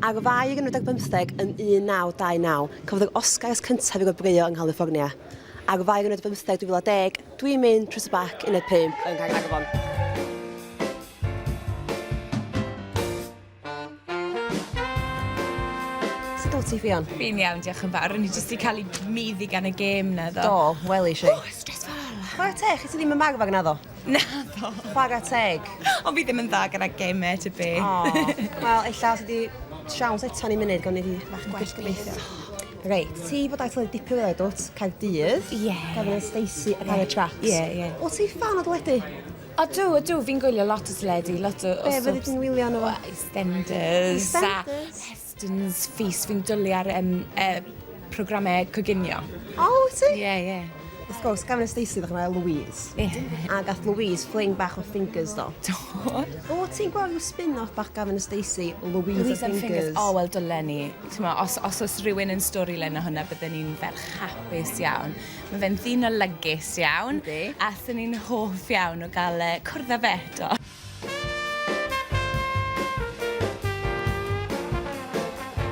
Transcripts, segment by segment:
Ar 2015, yn 1929, cafodd yr Oscars cyntaf ei gwobrwyo yng Nghaliffornia. Ar 2015, 2010, Dwi'n mynd trwy tŷ bac uned 5 yng Nghaernarfon. Sut wyt ti, Ffion? Fi'n iawn, diolch yn fawr. O'n i jyst wedi cael ei meiddi gan y gêm 'na, ddo. Do, welish i. Ww, stressful! Chwarae teg, chi ti ddim yn marw ar naddo? Naddo. Chwarae teg. Ond fi ddim yn dda gyda gemau, to be. Oh. Wel, illa os ydi siawns eto ni'n munud, gwn i fi fach gwell gobeithio. Reit, ti bod aeth led dipyn o dwt, cael dydd. Ie. Gofyn y Stacey a cael y tracks. Ie, ie. O ti fan o dwledu? A dw, a dw, fi'n gwylio lot o dwledu, lot o... Be, fyddi ti'n wylio nhw? Well, EastEnders. EastEnders. Students Feast, fi'n dwlu ar um, uh, programmau coginio. O, oh, ti? Ie, yeah, ie. Yeah. Wrth gwrs, gafon y Stacey ddech chi'n Louise. Ie. Yeah. A gath Louise fling bach o fingers do. Do. O, ti'n gweld yw spin-off bach gafon y Stacey, Louise, Louise and fingers. O, oh, wel, dylen ni. Tyma, os, os oes rhywun yn stori len o hwnna, byddwn ni'n fel chapus iawn. Mae fe'n ddyn o lygus iawn. Yndi. A thyn ni'n hoff iawn o gael uh, cwrdd â fe do.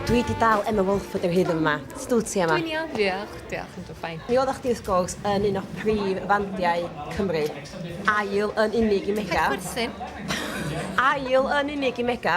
Dwi 'di dal Emma Walford o hyd yn fama. Sut wt ti Emma? Dwi'n iawn diolch, diolch yn dw fine. Mi oddach chdi wrth gwrs yn un o prif fandiau Cymru. Ail yn unig i Mega. Peth chwerthin. Ail yn unig i Mega.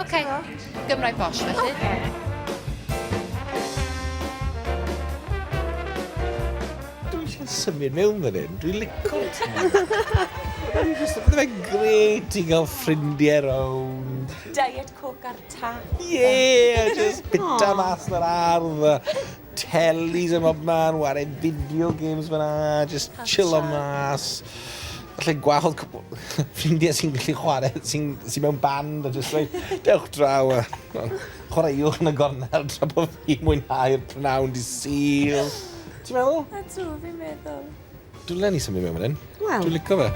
Ok, Gymraeg bosh felly. Ok. yn symud mewn fan hyn. Dwi'n lico ti. Bydd e'n gret i gael ffrindiau rownd. Diet Coke ar tap. Ie, just bita mas yr ardd. Telis ym mhob man, ware video games fyna, just chillo mas. Felly gweld ffrindiau sy'n gallu chwarae, sy'n sy mewn band a just like, dewch draw a chwaraewch yn y gornel tra bod fi mwynhau'r pnawn di syl. Ti'n meddwl? A tu, fi'n meddwl. Dwi'n lenni symud mewn fan hyn. Wel. Dwi'n licio fe.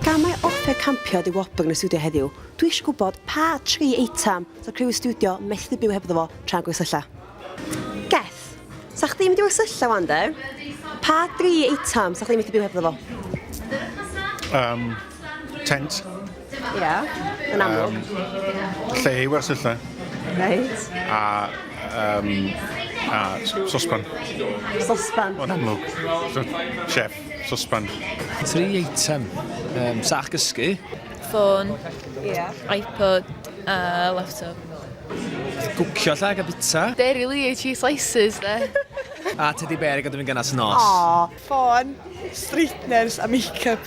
Gan mae offer campio di Wobr yn y studio heddiw, dwi eisiau gwybod pa tri eitem so criw y studio methu byw hebddo fo tra'n gwersylla. Geth, sa chdi'n mynd i wersylla wan de? Pa dri eitem sa chdi'n methu byw hebddo fo? Um, tent. Ia, yn amlwg. Um, lle i wersylla. Reit. A, um, a sospan. Sospan. Yn amlwg. Chef, sospan. Tri eitem. Um, sach gysgu. Ffôn. Ia. iPod. A laptop. Gwcio lle a bita. Dairy Lee cheese slices, de. a teddy bear i gadw fi'n gynas nos. Aww. Ffôn, straighteners a makeup.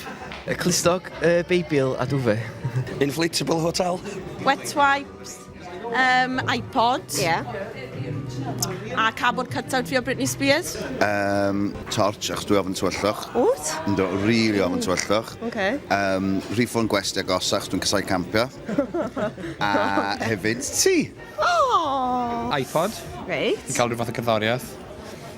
Y clustog, y Beibl a duve. Inflatable hotel. Wet wipes, um, iPod. Yeah. A cardboard cutout fi o Britney Spears. Um, torch, achos dwi ofyn tywyllwch. Wt? Ynddo, really ofyn tywyllwch. Okay. Um, rhifon gwesti a gosa, achos dwi'n casau campio. a hefyd ti. Oh! iPod. Reit. Cael rhyw fath o cerddoriaeth.